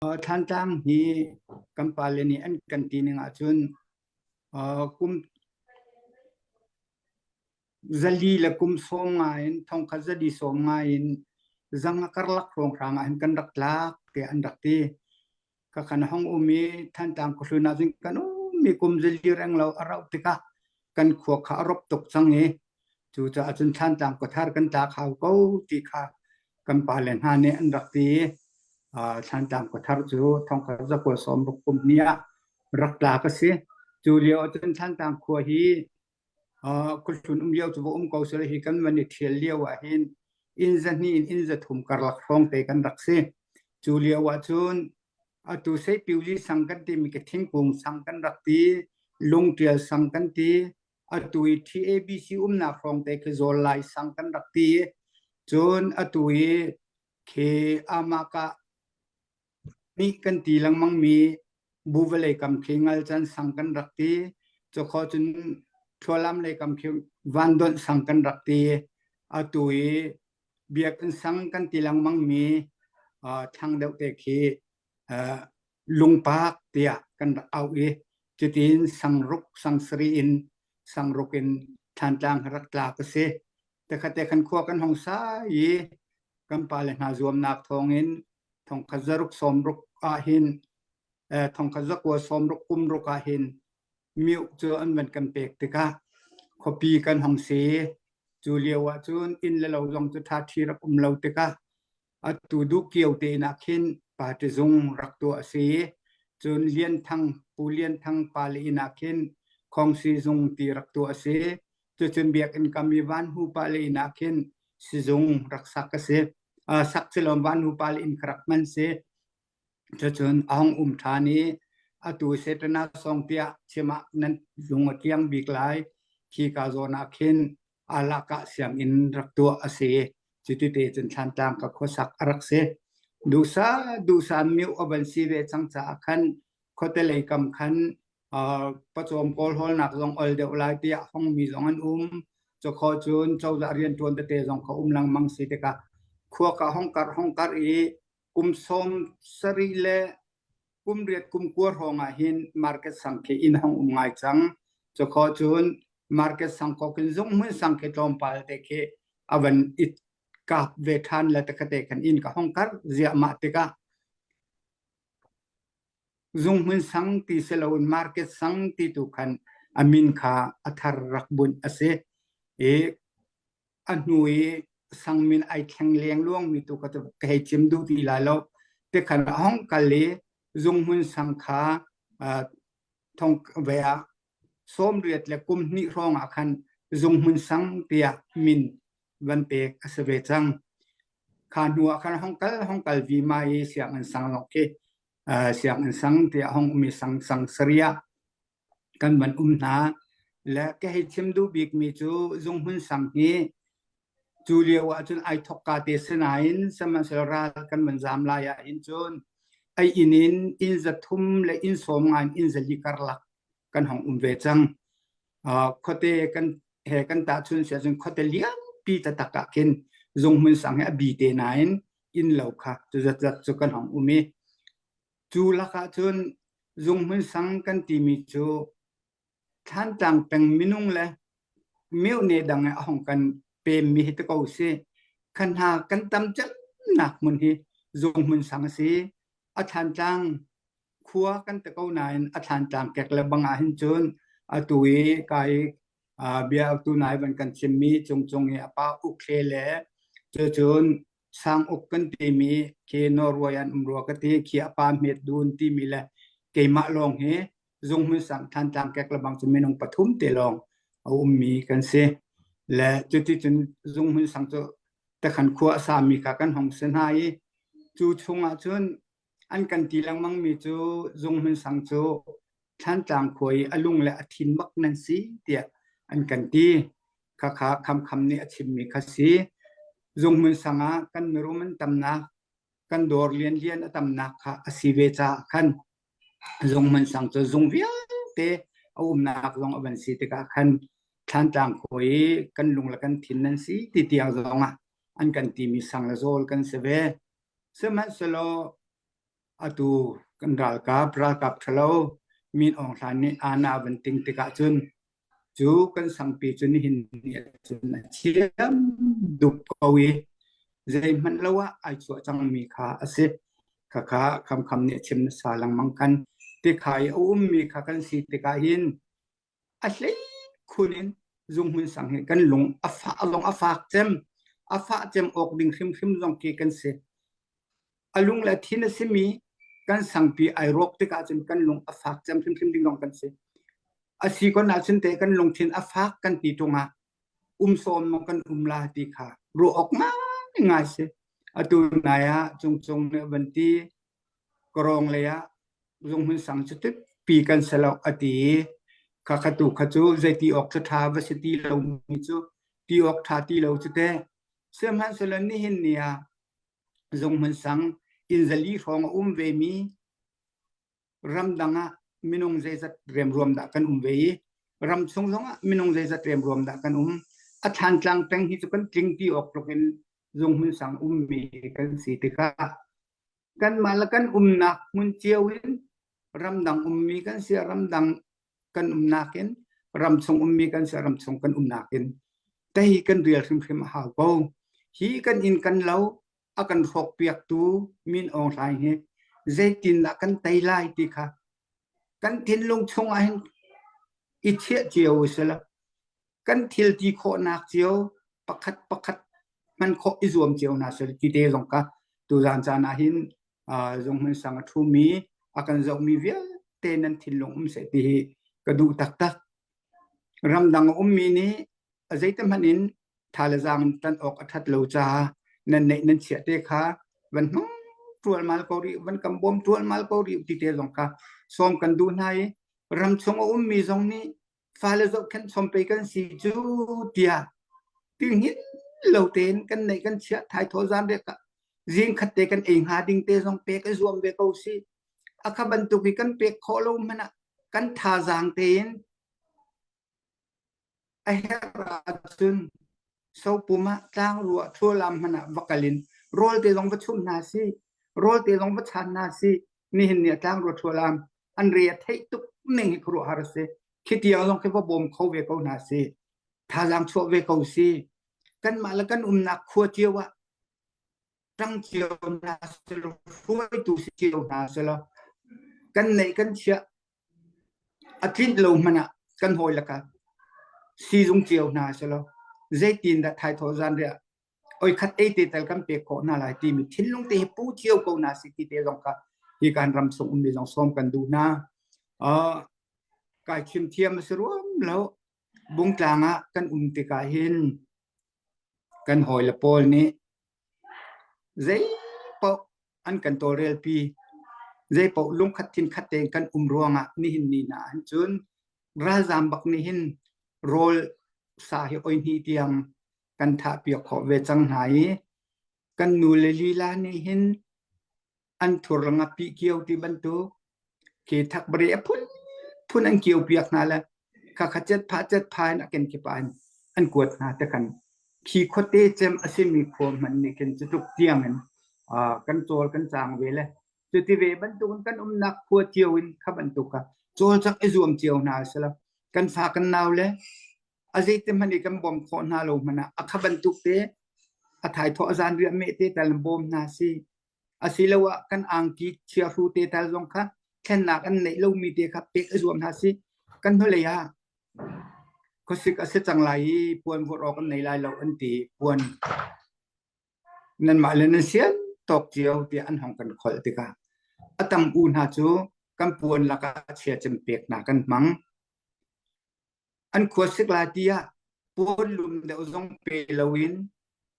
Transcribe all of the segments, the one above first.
Thlantlang hi kan pale nih an kan ti ning ahcun kum zali le kum sawm ngai in thongkha zali sawm ngai in zang a karlak hrawng hrang ah hin kan rak tlak te an rak ti ka kan hong um i thantlang khuhlun ah cun kan um mi kum zali reng lo a rauh tikah kan khua kha a rop tuk cang i Cucaah cun thlantaang kuthar kan tlak hau ko ti kha kan pa le hna nih an rak ti i thlantaang kuthar cu thongkar zakua sawm ruk kum ni ah rak tla ka si. Cu lio cun thlantaang khua hi khuhlun um lio cu va um ko sel hi kan man i thial lio ahhin inn za hnih in inn za thum karlak hrawng te kan rak si. Cu lio ahcun atu sei piuli sang kan timi ke thingkung sang kan rak ti, lung tial sang kan ti, atu i TABC umnak hrawngte khi zawl lai sang kan rak ti cun atu i khi amaka mi kan ti lengmang mi bu vale kam khi ngal chan sang kan rak ti cho kho cun thlualam lei kam khi van don sang kan rak ti atu i biak in sang kan ti lengmang mi thang deuh te khi lungpak tiah kan rak auh i cutin sangruk sangsari in sangruk in thlantlang hi rak tla ka si. Tekhate kan khua kan hong sa i kan pale hna zuamnak thawngin thongkhat zaruk somruk ahhin eh, thongkhat zakua somruk kumruk ahhin miu cu an van kan pek tikah khuapi kan hong si. Cu lio ahcun inn le lo zong cu thathi rak um lo tikah Atu Dukio te nak khin party zung rak tuah a si. Cun Lian Thang, Pu Lian Thang pale nak khin Khongsi zung ti rak tuah a si. Cucun Biakinn kam i Van Hu pale nak khin sizung rak sak a si. Uh, sak silom Van Hu pale in karak hman si. Cucun Aung Um ṭhan i atu Satana sawng tiah chim ah nan lung a tliang bik lai. Khika zawn ah khin alakah sianginn rak tuah a si. Cuti cun Thlantlang ka khuasak a rak si. Duhsah duhsah miu a van si ve cang caah khan khuatelei kam khan uh, pacawm pawl holnak zong ol deuh lai tiah hongmi zong an um. Cakhaw cun cozah rianṭuan tete zong ka um lengmang si tikah khuaka hongkarh hongkarh i kum sawm sarih le kum riat kum kua hrawng ah hin market sang khi inn hang um ngai cang cu kho cun market sang ko kin zung mun sang khi tlawmpal te khi avan it kap ve than la takate kan in ka hong kar zia ma tikah zung mun sang ti seloin market sang ti tu khan amin kha athar rak bunh asi i a hnu i sang min ai thleng leng luang mi tu ka ka hei chim du ti la lo te khan hong kal i zung mun sang kha thong ve a som riat le kum ni rong a khan zung mun sang tia min van pek a se ve chang kha hnu a khan hong kal hong kal vi ma i siang an sang lo ke siang an sang tia hong mi sang sang saria kan van um hna. Le ka hei chim duh bikmi cu Zung Hmun Sang hi cu lio ahcun ai thok ka te sinain sihmanhsehlaw ral kan van zaam lai ahhin cun ai inn in inn za thum le inn sawm ngai in inn zali karlak kan hong um ve cang. Uh, khuate kan he kan ta chun si ahcun khuate lianpi tatak ah khin Zung Hmun Sang he a bi te nain inn lo kha cu zat zat cu kan hong um i Cu lakah cun zunghmun sang kan timi cu Thlantlang peng minung le miune dang a hong kan pemmi hi ti ko si. Khan hna kan tam cemnak hmun hi zunghmun sang a si. A Thlantlang khua kan ti ko nain a Thlantlang kek le bang ah hin cun atu i kai bia tu nai van kan chimmi chung chung i a pa ukhle le cu cun sang uk kan timi ke Norway an um rua ka ti khi a pa met dun timi le keimah lawng hi zunghmun sang than tlang kek lebang cu minung pathum te lawng a ummi kan si le cuti cun zunghmun sang cu takhan khua a sami kha kan hong si hna i cu chung ah cun An kan ti lengmangmi cu Zung hmunsang cu Thlantlang khua i a lung le a thin bak nan si tiah an kan ti. Khakha Khamkham nih a chimmi kha si. Zung hmunsang ah kan mirum an tamnak, kan dawr lianlian a tamnak kha a si ve caah khan Zung hmunsang cu zung vialte a umnak zong a van si tikah khan Thlantlang khua i kan lung le kan thin nan si ti tiang zong ah an kan timi sang le zawl kan si ve. Sihmanhsehlaw atu kan ralkap ralkap ṭhalo Min Aung Hlain nih Anna a van ting tikah cun cu kan sangpi cu nihin ni ah cun a thiam duk ko i zeihmanh lo ah ai chuah cangmi kha a si. Khakha khamkham nih a chim nasa lengmang kan. Tikha i a ummi kha kan si tikah hin a hlei khun in zunghmun sang hi kan lung a fa lung a fak cem a fah cem awk ding hrimhrim zong khi kan si a lung le thin a simi kan sangpi ai rawk tikah cun kan lung a fak cem hrimhrim ding zong kan si a si kon ahcun te kan lungthin a fak kan ti tungah um sawm mong kan um la ti kha ruah awk ngai ngai si atu nai ah cung cung ne van ti Karong lei ah Zunghmun Sang cu pi kan si lo a ti i kha kha tu kha cu zeiti awk cu ṭha va si ti lomi cu ti awk ṭha ti lo cu teh. Sihmanhsehlaw nihin ni ah Zunghmun Sang inzali hrawng a um ve mi ramdang ah minung zeizat remruam dah kan um ve i ramchung zong ah minung zeizat remruam dah kan um. A thlantlang peng hi cu kan tling ti awk tluk in Zunghmun Sang ummi kan si tikah Kanmah le kan umnak hmun cio in ramdang ummi kan si, ramdang kan umnak in ramchung ummi kan si, ramchung kan umnak in te hi kan rial hrimhrim a hau ko. Hi kan inn kan lo a kan hrawkpiaktu Min Aung Hlaing hi zeitindah kan tei lai ti kha kan thinlung chungah hin i thieh cio u sila kan thil ti khawhnak cio pakhat pakhat hman khawh i zuam cio hna sel ti te zong ka tu zan caan ah hin zong hman sang a thu mi a kan zoh mi vialte nan thinlung um se ti hi ka duh taktak ramdang um mi nih zeitahmanh in tha le zang tan awk a that lo cha nan neih nan chia te kha van hnung tual mal ko ri van kam bom tual mal ko ri ti te zong ka som kan du hnai ram chung a um mi zong nih fale zohkhenh chom pei kan si cu tiah tingin lo tein kan neih kan chiah thai thaw zan riak zing khat te kan ei hnga ding te zong pe kan zuam ve ko si akha bantuk hi kan pek kho lo man ah kan tha zang tein a herh ahcun Sopum ah tlangru ah thlualam hmanh ah va kal in rawl te zong va chumh hna sih, rawl te zong va chan hna sih. Nihin nih a tlangru thlualam an re a theih tuk ning hi khuaruah har a si. Khi tiang zong khi va bawm kho ve ko hna sih. Thazaang chuah ve ko sih. Kanmah le kan umnak khua cio ah ṭang cio hna selaw, hruaitu si cio hna selaw, kan neih kan chiah A tlinh lo hmanh ah kan hawi le ka siizung cio hna silaw zeitindah thaithawh zanriah oikhat ei te tal kan pek khawh hna lai timi thinlung te hi pu cio ko hna si ti te zong kha hi kan ram sung ummi zong sawm kan duh hna. Uh, kai thim thiam a si ruam lo. Bungtlang ah kan um tikah hin kan hawi le pawl nih Zeipaoh an kan tawlrelpi. Zeipaoh lungkhat thinkhat tein kan um ruangah nihin ni hna ahhin cun ralzaam bak nih hin rawl sa hi oi hnih tiang kan thahpiak khawh ve cang hna i kan nu le lila nih hin an thur langa pi kio ti bantuk ke thak bere a phun phun an kio piak hna la kha kha chet pha chet pha in aken ke pa an kuat hna te kan khi khote chem asimi khom man ni ken chu tuk tiang in kan chol kan chang ve le chu ti ve bantuk kan um nak phua tiao in kha bantuk ka chol chak e zuam tiao hna sala kan fa kan naw le azei te mani kan bom kho hna lo mana akha bantuk te athai tho azan ria me te tal bom hna si Asiloah kan angki chiahru te tal zong kha thlennak an neih lomi te kha pek a zuam hna sih. Kan hnulei ah khuasik a si cang lai i puan vuah awk an nei lai lo an ti. Puan nanmah le nan sian tawk cio tiah an hong kan kholh tikah a tam u hna cu kan puan lakah chia cem pek hna kan hmang. an khua sikla ti ah puan lum deuh zong pe loin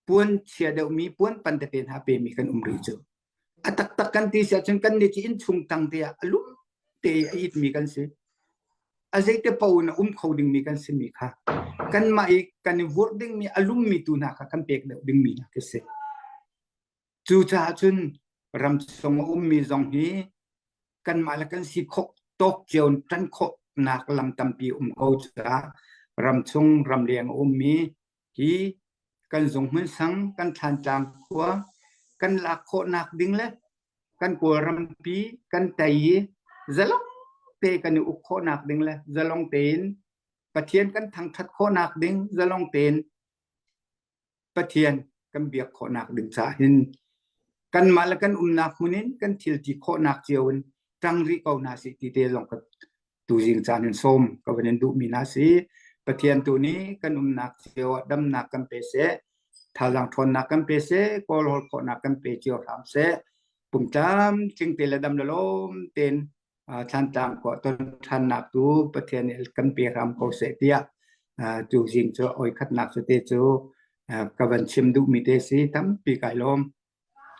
puan chia deuh mi puan pan tete hna pe mi kan um rih cu a taktak kan ti si ahcun kan ni ci inn chung tang te ah a lum te a it mi kan si a zeite po in a um kho ding mi kan si mi kha kan mah i kan i vurh ding mi a lum mi tu hna kha kan pek deuh ding mi hna khi si Cucaah cun ramchung a ummi zong hi kanmah le kan si khawh tawk cio tan khawhnak lam tampi um ko caah ramchung ramleng a ummi hi kan zung hmun sang, kan thantlang khua, kan lak khawhnak ding le kan kawlrampi, kan tei i zalong te kan i uk khawhnak ding le zalong tein Pathian kan thangthat khawhnak ding zalong tein Pathian kan biak khawhnak ding caah hin kanmah le kan umnak hmun in kan thil ti khawhnak cio in ṭang rih ko hna si ti te zong ka tu zing caan hin som ka van in duhmi hna si Pathian tu nih kan umnak cio ah damnak kan pe se thazaang ṭhawnnak kan pe se kawl hol khawhnak kan pe cio hram se pumtlam tling te le dam le lawm tein thantlang ko ton thannak tu pathian il kan pe ram ko se tia tu jing cho oi khat nak su te chu ka van chim du mi te si tampi kai lom